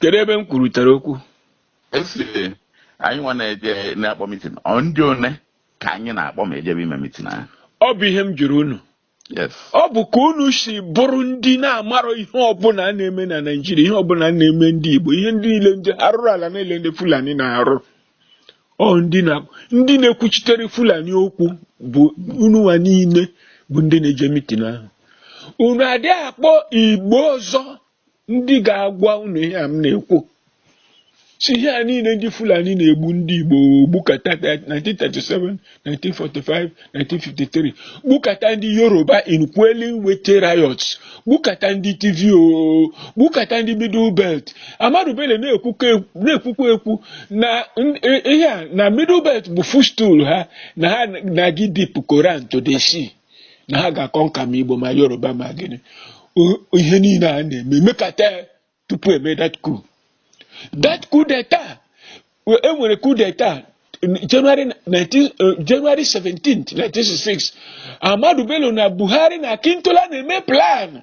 kedu ebe m kwurutere okwu esiri anyị nwa na-eje na-akpọ mitin ọ ndị one ka anyị na-akpọ ma e jebe ime mitin ahụ ọ bụ ihe m jụrụ unu yes ọ bụ ka unu si bụrụ ndị na-amarọ ihe ọbụla a na-eme na naijiria ihe ọbụla a na-eme ndị igbo ihe ndị niile ndị arụrụ ala niile ndị fulani na-arụ ọ ndị na ndị na-ekwuchitere fulani okwu bụ ununwa niile bụ ndị na-eje mitin ahụ unu adị akpọ igbo ọzọ ndị ga-agwa unu ihe a m na-ekwu si ihe a niile ndị Fulani na-egbu ndị Igbo gbukata 1937 1945 1953 gbukata ndị Yoruba in quelling Wetie riots gbukata ndị Tiv o gbukata ndị Middle Belt Ahmadu Bello na-ekwukwa ekwu na ihe a na Middle Belt bụ footstool ha na ha na-aga ịdip Koran to the sea na ha ga-aconquer ma igbo ma yoruba ma gịnị ihe niile a na-eme e mekata tupu e mee that coup that coup d'etat e nwere coup d'etat January 19, uh, January 17th 1966 Ahmadu Bello na Buhari na Akintola na-eme plan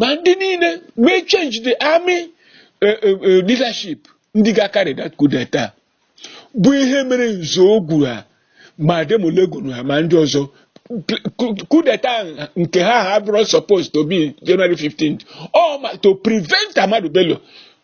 ma ndị niile mee change the army eh, eh, eh, leadership ndị ga-acarry that coup d'etat bụ ihe mere Nzeogwu ha ma Ademulegun ha ma ndị ọzọ coup d'etat nke ha ha bụrụ supposed to be January 15th ọ ma to prevent Ahmadu Bello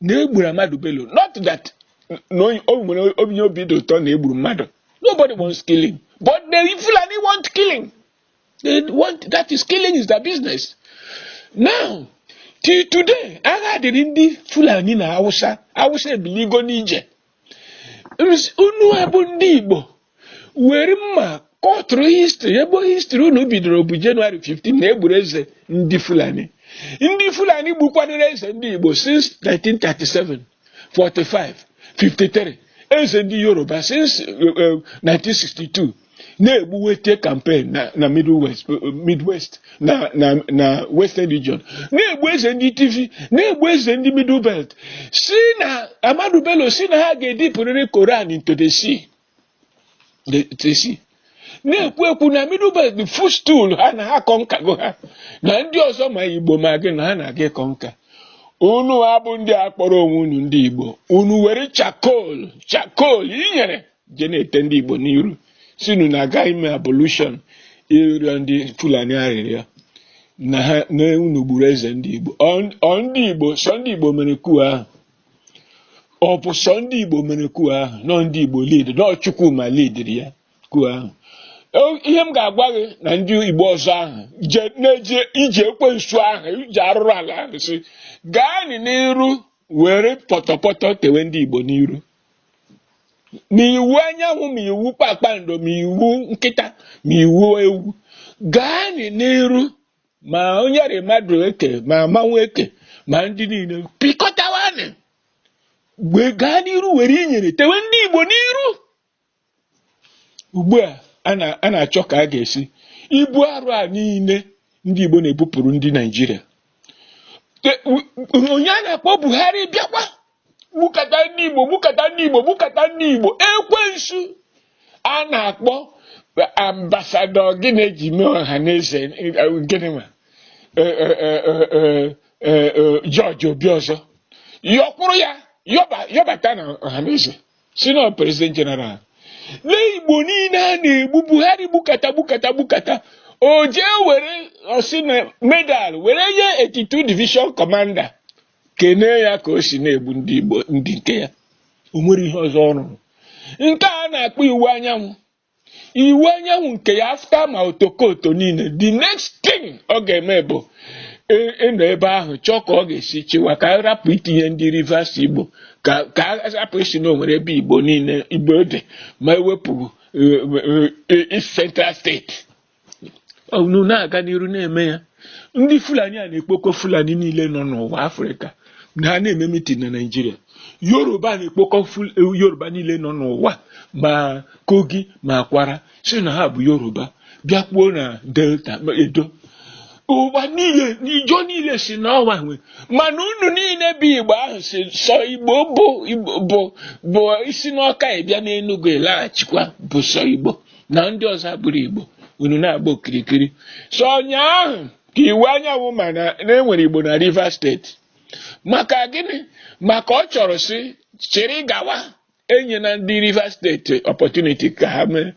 na e gburu Ahmadu Bello not that na onye- o nwere onye obi dị ụtọ na e gburu mmadụ nobody wants killing but the Fulani want killing they want that is killing is their business now till today agha dịrị ndị Fulani na Hausa Hausa ebiligo n'ije unu a bụ ndị Igbo were mma kọtụrụ history ebe history unu bidoro bụ January 15 na e gburu eze ndị Fulani ndị Fulani gbukwanụrụ eze ndị Igbo since 1937 45 53 eze ndị Yoruba since 1962 eh, eh, na-egbu wetie campaign na na middle west midwest na na na western region na-egbu eze ndị tiv na-egbu eze ndị middle belt si na ahmadu bello si na ha ga-edipụrịrị koran into the sea the, the sea na-ekwu ekwu na middle belt bụ footstool ha na ha conquergo ha na ndị ọzọ ma igbo ma gịnị na ha na-aga iconquer unu a bụ ndị a kpọrọ onwe unu ndị igbo unu were charcoal charcoal inyere je na-ete ndị Igbo n'iru sị unu na-aga ime ablution ịrịọ ndị Fulani arịrịọ na ha na unu gburu eze ndị Igbo ọ ndị Igbo sọ ndị Igbo mere coup ahụ ọ bụ sọ ndị Igbo mere coup ahụ na ọ ndị Igbo lead na ọ Chukwuma leadiri ya coup ahụ ihe m ga-agwa gị na ndị Igbo ọzọ ahụ na-eje ije ekwensu ahụ ije arụrụ ala ahụ sị gaa n'iru were pọtọpọtọ tewe ndị Igbo n'iru ma Iwuanyanwụ ma iwu kpakpando ma iwu nkịta ma iwu ewu gaa n'iru ma onye rị Madueke ma mmanwụ eke ma ndị niile pịkọtawanị gaa n'iru were inyere tewe ndị Igbo n'iru ugbu a a na- a na-achọ ka a ga-esi ibu arụ a niile ndị Igbo na-ebupụrụ ndị Naijiria Te- u- u- onye a na-akpọ Buhari bịakwa gbukata ndị Igbo gbukata ndị Igbo gbukata ndị Igbo ekwensu a na-akpọ ambasadọ gịnị e ji mee Ohanaeze gịnị ma George Obiọzọ yọkwụrụ ya yọba- yọbata na Ohanaeze sị na president general lee igbo niile a na-egbu buhari gbukata gbukata gbukata o jee were ọ sị na medal were nye 82 division commander kenee ya ka o si na-egbu ndị igbo ndị nke ya o nwere ihe ọzọ ọ rụrụ nke a na-akpọ Iwuanyanwụ Iwuanyanwụ nke ya after ma otokoto niile the next thing ọ ga-eme bụ ị- ịnọ ebe ahụ chọọ ka ọ ga-esi chịwa ka a rapụ itinye ndị rivers igbo ka ka a rapụ ịsị na o nwere ebe igbo niile igbo dị ma ewepụ eh, eh, eh, East central steeti unu na-aga n'iru na-eme ya ndị fulani a na-ekpokọ fulani niile nọ n'ụwa afrịka na ha na-eme mitin na naijiria yoruba na-ekpokọ yoruba niile nọ n'ụwa ma kogi ma kwara sị na ha bụ yoruba bịakwuo na delta edo ụwa niile na ijaw niile sị na ọ wa nwe mana unu niile bụ igbo ahụ sị sọ igbo bụ bụ isi n'ọka ịbịa n'enugwu ịlaghachikwa bụ sọ igbo na ndị ọzọ abụrọ Igbo unu na-agba okirikiri sọ ụnyaahụ ka Iwuanyanwụ ma na e nwere Igbo na Rivers steeti maka gịnị maka ọ chọrọ sị chịrị gawa enyena ndị Rivers steeti opportunity ka ha mee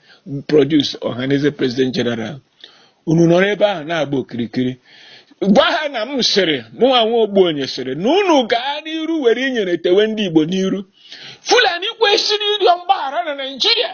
produce Ohanaeze president general unu nọrọ ebe ahụ na-agba okirikiri gwa ha na m sịrị mụnwa nwa Ogbuonye sịrị na unu gaa n'iru were inyere tewe ndị Igbo n'iru Fulani kwesịrị ịrịọ mgbaghara na Naịjirịa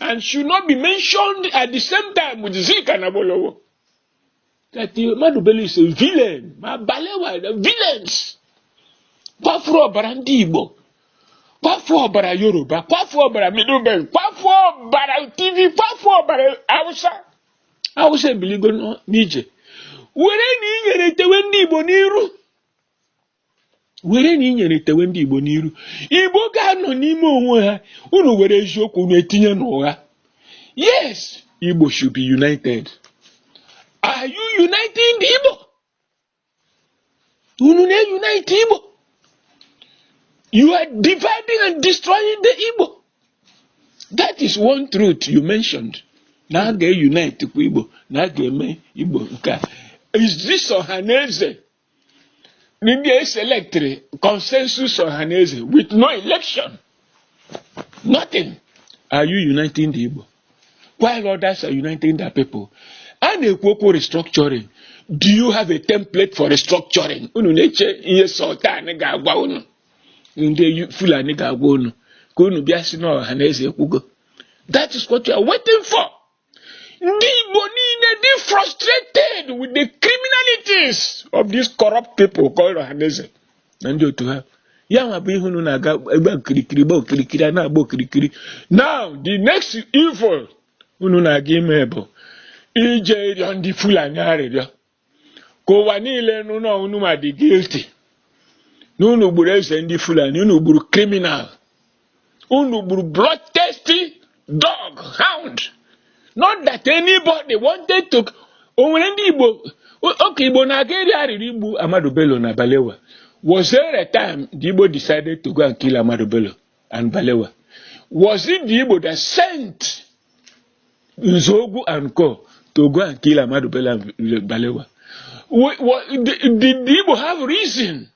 and should not be mentioned at the same time with Zik and Awolowo. That Ahmadu Bello is a villain. Ma Balewa, the villains. Kwafu ọbara ndị Igbo. Kwafu ọbara Yoruba. Kwafu ọbara Middle Belt. Kwafu ọbara Tiv. Kwafu ọbara Hausa. Unu ebiligo n'ije. Were na inyere tewe ndị Igbo n'iru. were na inyere tewe ndị Igbo n'iru Igbo ga-anọ n'ime onwe ha unu were eziokwu unu etinye n'ụgha yes Igbo should be united are you uniting the Igbo unu na-unite Igbo you are dividing and destroying the Igbo that is one truth you mentioned na a ga-unite kwa Igbo na a ga-eme Igbo nke a is this Ọhaneze ndị e selectịrị consensus Ọhaneze with no election nothing are you uniting the Igbo while others are uniting their people a na-ekwu okwu restructuring do you have a template for restructuring unu na-eche ihe sultan ga-agwa unu ndị Fulani ga-agwa unu ka unu bịa sị na Ọhaneze ekwugo that is what you are waiting for. ndị Igbo niile dị frustrated with the criminalities of these corrupt people called Ọhaneze na ndị otu ha ya nwa bụ ihe unu na-aga agba okirikiri gba okirikiri a na-agba okirikiri now the next evil unu na-aga ime bụ ije ịrịọ ndị Fulani arịrịọ ka ụwa niile nụ na unu ma dị guilty na unu gburu eze ndị Fulani unu gburu criminal unu gburu bloodthirsty dog hound not that anybody wanted to o nwere ndị Igbo oge Igbo na-aga eri arịrị igbu Ahmadu Bello na Balewa was there a time the Igbo decided to go and kill Ahmadu Bello and Balewa. Was it the Igbo that sent Nzogu and Co to go and kill Amadu Bello Balewa? What, what, did, did the Igbo have reason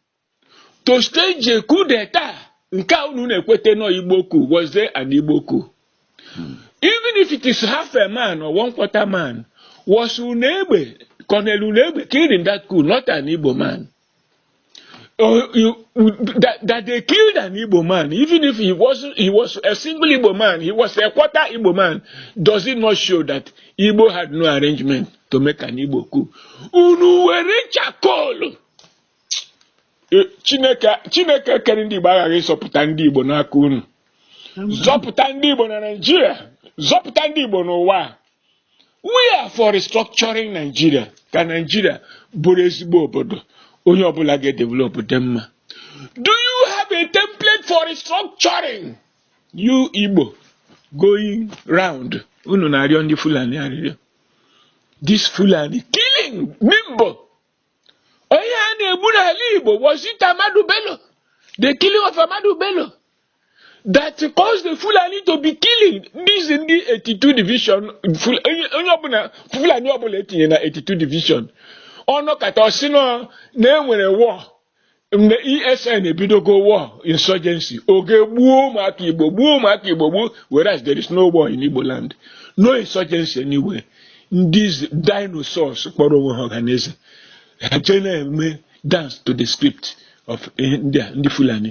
to stage a coup d'etat? Nke a unu na-ekwete nọ Igbo coup, was there an Igbo coup? Hmm. Even if it is half a man or one quarter man, was Unegbe, Colonel Unegbe killed in that coup, not an Igbo man? Oh, you, that, that they killed an Igbo man, even if he was he was a single Igbo man, he was a quarter Igbo man, does it not show that Igbo had no arrangement to make an Igbo coup? Unu were charcoal. Eh, Chineke Chineke kere ndị Igbo aghaghị ịzọpụta ndị Igbo n'aka unu. Zọpụta ndị Igbo na Nigeria, zọpụta ndị Igbo n'ụwa. we are for restructuring Nigeria ka Nigeria bụrụ ezigbo obodo onye ọbụla ga-edevelop dị mma do you have a template for restructuring you Igbo going round unu na-arịọ ndị Fulani arịrịọ this Fulani killing Nimbo onye a na-egbu n'ala Igbo was it Ahmadu Bello the killing of Ahmadu Bello that caused the Fulani to be killing these in the 82 division onye ọbụla Fulani ọbụla etinye na 82 division ọ nọkata ọ sị na e nwere war mgbe ESN ebidogo war insurgency ọ gaa gbuo ụmụaka Igbo gbuo ụmụaka Igbo gbuo whereas there is no war in Igbo land no insurgency anywhere ndị dinosaurs kpọrọ onwe ha Ọhaneze ha jee na-eme dance to the script of ndị Fulani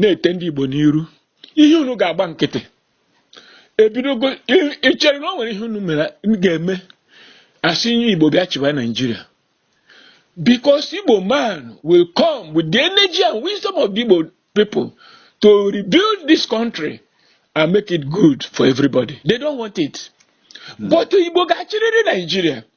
na-ete ndị Igbo n'iru ihe unu ga-agba nkịtị ebidogo i chere na o nwere ihe unu mere ga-eme a sị onye Igbo bịa chịwa Naijiria because Igbo man will come with the energy and wisdom of the Igbo people to rebuild this country and make it good for everybody they don't want it hmm. but Igbo ga-achịrịrị Naijiria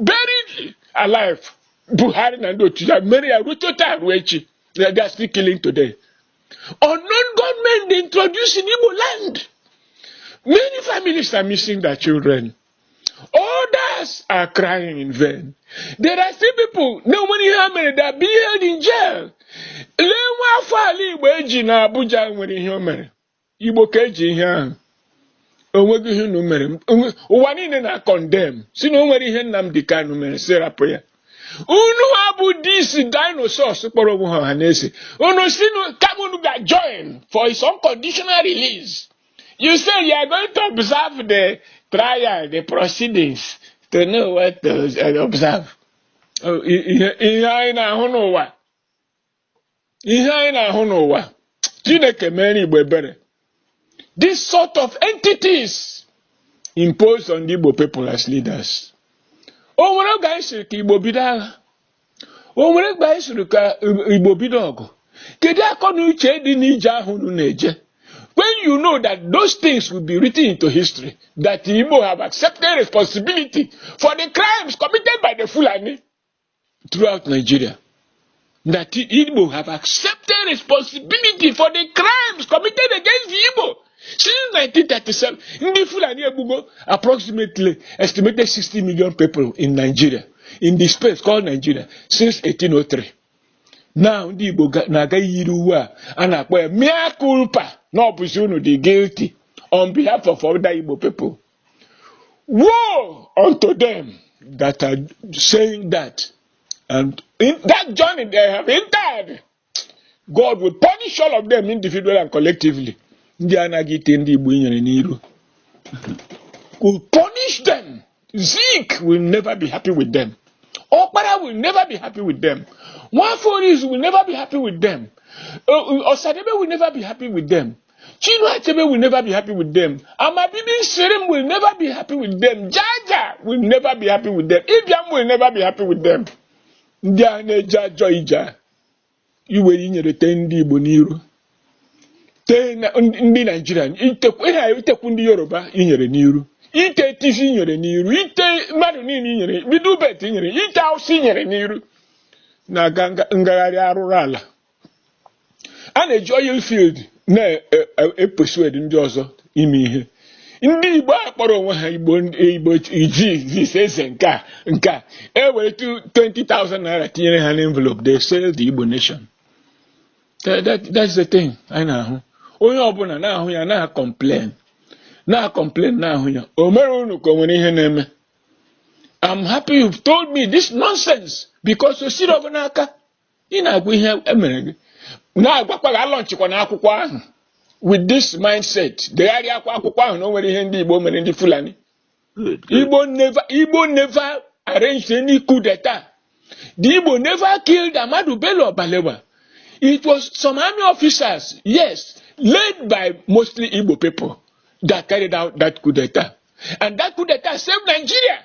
buried alive Buhari na ndị otu ya mere ya ruo taata ruo echi na they are still killing today unknown gunmen they introduced in Igbo land many families are missing their children others are crying in vain there are still people na o nwere ihe ha mere that are being held in jail lee nwa afọ ala Igbo e ji na Abuja nwere ihe o mere Igbo ka e ji ihe ahụ onweghị ihe unu mere ụwa niile na-condemn sị na o nwere ihe Nnamdi Kanu mere sị rapụ ya unuwa bụ these dinosaurs kpọrọ onwe ha Ọhaneze unu sị kama unu ga join for his unconditional release you say you are going to observe the trial the proceedings to know what to observe oh, ihe anyị na-ahụ n'ụwa ihe anyị na-ahụ n'ụwa Chineke meere Igbo ebere this sort of entities imposed on the Igbo people as leaders o nwere oge anyị sịrị ka Igbo bido agha o nwere oge anyị sịrị ka Igbo bido ọgụ kedu akọ na uche dị n'ije ahụ unu na-eje when you know that those things will be written into history that Igbo have accepted responsibility for the crimes committed by the Fulani throughout Nigeria that Igbo have accepted responsibility for the crimes committed against the Igbo since 1937. Ndị Fulani egbugo approximately estimated 60 million people in Nigeria in the space called Nigeria since 1803. Now ndị Igbo na-aga yiri uwe a a na-akpọ ya mea culpa na ọ bụzi unu dị guilty on behalf of other Igbo people. Woe unto them that are saying that. And in that journey they have entered, God will punish all of them individually and collectively. Ndị anaghị ite ndị Igbo inyere n'iru. Will punish them. Zeke will never be happy with them. Okpara will never be happy with them. Nwaforis will never be happy with them. Uh, uh, Osadebe will never be happy with them. Chinua Achebe will never be happy with them. Amabibi Shirim will never be happy with them. Jaja will never be happy with them. Ibiam will never be happy with them. Ndị a na-eje ajọ ije a iwere inyere tee ndị Igbo n'iru tee na- ndị ndị Naijiria itekwu ihe a itekwu ndị Yoruba inyere n'iru ite Tiv inyere n'iru ite mmadụ niile inyere Middle Belt inyere ite Awụsa inyere n'iru na-aga nga- ngagharị arụrụ ala a na-eji oil field na-epersuade ndị ọzọ ime ihe ndị igbo a kpọrọ onwe ha igbo igbo iji this eze nke a nke a e were 20,000 naira tinyere ha n'envelope they sell the igbo nation that, that, that's the thing anyị na-ahụ onye ọbụla na-ahụ ya na-acomplain na-acomplain na-ahụ ya o mere unu ka o nwere ihe na-eme I'm happy you've told me this nonsense because o siri ọgụ n'aka ị na-agwa ihe e mere gị na-agwakwa gị alaunchịkwana akwụkwọ ahụ with this mindset degharịakwa akwụkwọ ahụ na o nwere ihe ndị Igbo mere ndị Fulani Good, good. Igbo never Igbo never arranged any coup d'etat. The Igbo never killed Ahmadu Bello or Balewa. It was some army officers, yes, led by mostly Igbo people that carried out that coup d'etat. And that coup d'etat saved Nigeria.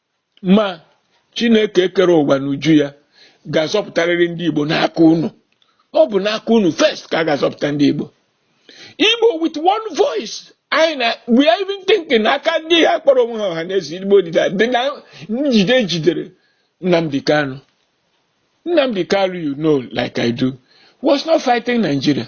ma chineke kere ụwa n'uju ya ga-azọpụtarịrị ndị igbo n'aka unu ọ bụ n'aka unu first ka a ga-azọpụta ndị igbo igbo with one voice anyị na we are even thinking aka ndị a kpọrọ onwe ha ọha na eze igbo dịda dị na njide jidere nnamdi kanu nnamdi kanu you know like i do was not fighting nigeria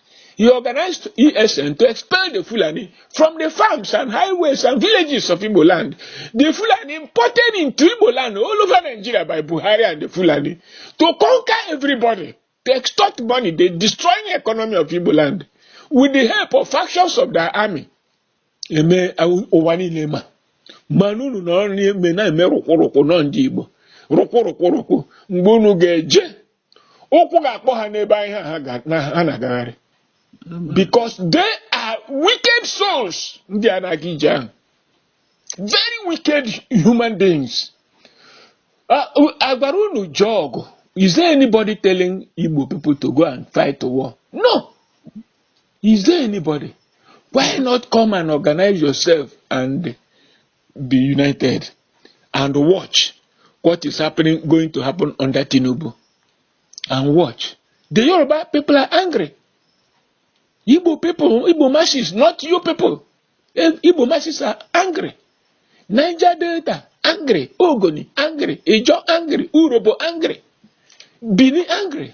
He organized ESN to expel the Fulani from the farms and highways and villages of Igbo land. The Fulani imported into Igbo land all over Nigeria by Buhari and the Fulani to conquer everybody, to extort money, they destroy the economy of Igbo land with the help of factions of their army. Ihe ụwa niile ma mana unu nọrọ na-eme na-eme rụkwụrụkwụ nọ ndị Igbo rụkwụrụkwụrụkwụ mgbe unu ga-eje ụkwụ ga-akpọ ha n'ebe ahụ ha ga- na- ha na-agagharị because they are wicked souls ndị a na-aga ije ahụ very wicked human beings Ah, u- a gwara unu jee ọgụ is there anybody telling igbo people to go and fight a war no is there anybody why not come and organize yourself and be united and watch what is happening going to happen under Tinubu and watch the Yoruba people are angry Igbo people Igbo masses not you people eh, Igbo masses are angry Niger Delta angry Ogoni angry Ijo angry Urobo angry Bini angry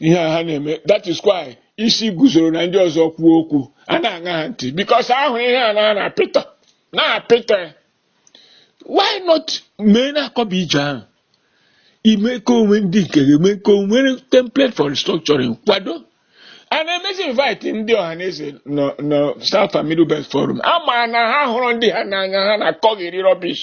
ihe a ha na-eme that is why Isiguzoro na ndị ọzọ kwuo okwu a na-aṅa ha ntị because a hụrụ ihe a na na pịtọ na pịtọ ya why not mee na-akọba ije ahụ ime ka o nwee ndị nke ga-eme ka o nwee template for restructuring kwado and e mezie invite ndị ọha na eze nọ na South and Middle Belt Forum a ma na ha hụrụ ndị ha n'anya ha na-akọgheri rubbish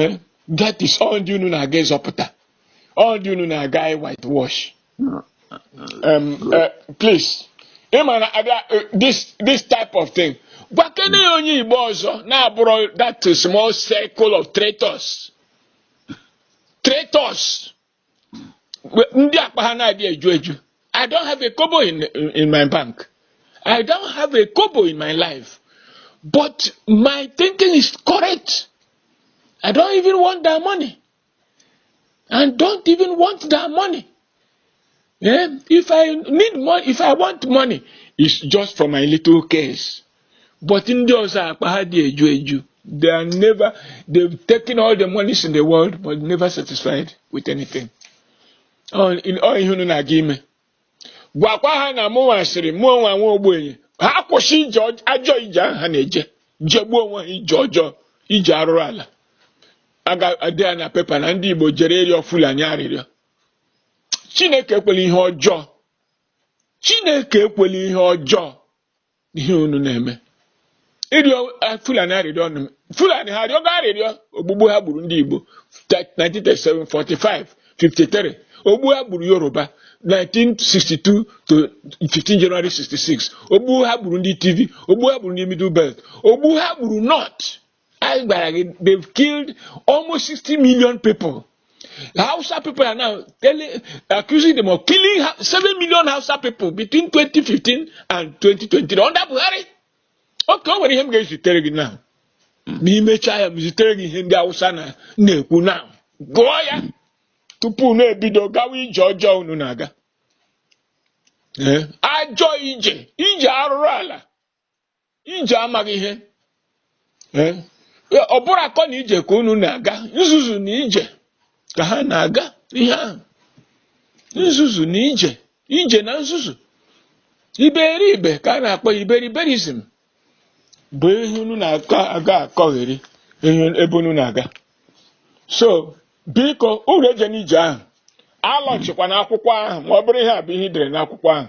eh, that is ọ ndị unu na-aga ịzọpụta ọ ndị unu na-aga ị whitewash um, uh, please ị ma na abịa eh, this this type of thing gwakene ya onye igbo ọzọ na-abụrọ that small circle of traitors traitors ndị akpa ha na-adị eju eju I don't have a kobo in, in my bank I don't have a kobo in my life but my thinking is correct I don't even want that money and don't even want that money Eh? If I need money, if I want money, it's just for my little case. But ndị ọzọ akpa ha dị eju eju. They are never, they've taken all the monies in the world but never satisfied with anything. Ọ ihe unu na-aga ime. Gwakwa ha na mụnwa sịrị mụ onwe nwa ogbenye. Ha kwụsị ajọ ije ahụ ha na-eje. Jegbuo onwe ha ije ọjọọ, ije arụrụ ala. A ga-ede ya na paper na ndị Igbo jere ịrịọ Fulani arịrịọ. Chineke ekwela ihe ọjọọ Chineke ekwela ihe ọjọọ ihe unu na-eme ịrịọ eh, Fulani arịrịọ ọnụ Fulani ha arịọgo arịrịọ ogbugbu ha gburu ndị Igbo 1937 45 53 ogbu ha gburu Yoruba 1962 to 15 January 66 ogbu ha gburu ndị Tiv ogbu ha gburu ndị Middle Belt ogbu ha gburu North anyị gwara gị they've killed almost 60 million people Hausa people are now telling, accusing them of killing 7 million Hausa people between 2015 and 2020 under Buhari okay o nwere ihe m ga-ezitere gị now m mechaa m zitere gị ihe ndị Hausa na-ekwu now gụọ ya tupu unu ebido gawa ije ọjọọ unu na-aga ajọ ije ije arụrụ ala ije amaghị ihe Eh, ọ bụrọ akọ na ije ka unu na-aga nzuzu na ije ka ha na-aga ihe ahụ nzuzu na ije ije na nzuzu iberibe ka a na-akpọ ya iberiberism bụ ihe unu na-aga akọgheri ebe unu na-aga so biko unu ejena ije ahụ alọchikwa n'akwụkwọ ahụ ma ọ bụrụ ihe a bụ ihe i dere n'akwụkwọ ahụ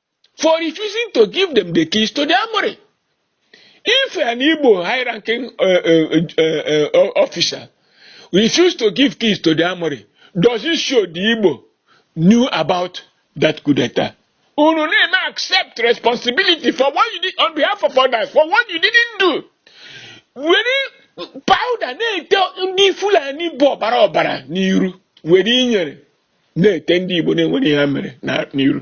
for refusing to give them the keys to the armory. If an Igbo high-ranking uh, uh, uh, uh, uh officer refused to give keys to the armory, does it show the Igbo knew about that coup d'etat? Unu na-eme accept responsibility for what you did on behalf of others, for what you didn't do. Were powder na-ete ndị Fulani bụ ọbara ọbara n'iru were inyere na-ete ndị Igbo na-enwerọ ihe ha mere n'iru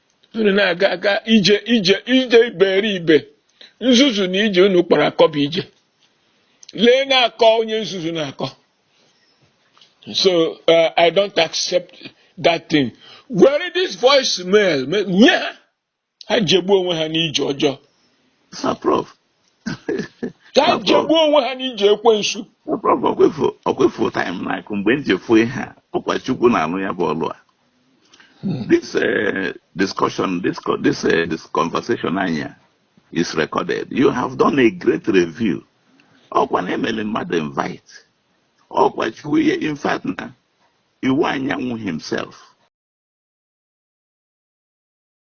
unu na-aga aga ije ije ije iberibe nzuzu na ije unu kpọrọ akọ bụ ije lee na-akọ onye nzuzu na-akọ so uh, i don't accept that thing were this voice mail nye ha ha jegbuo onwe ha n'ije ọjọọ ka ha jegbuo onwe ha n'ije ekwensu ọkwa ị fụ time na-akụ mgbe m ji fụ ihe a ọkwa chukwu na-alụ ya bụ ọlụ a hmm. this eh, discussion this eh, this conversation anyị a is recorded you have done a great review ọkwa na e mele mmadụ invite ọkwa chukwu ihe in fact na iwuanyanwụ himself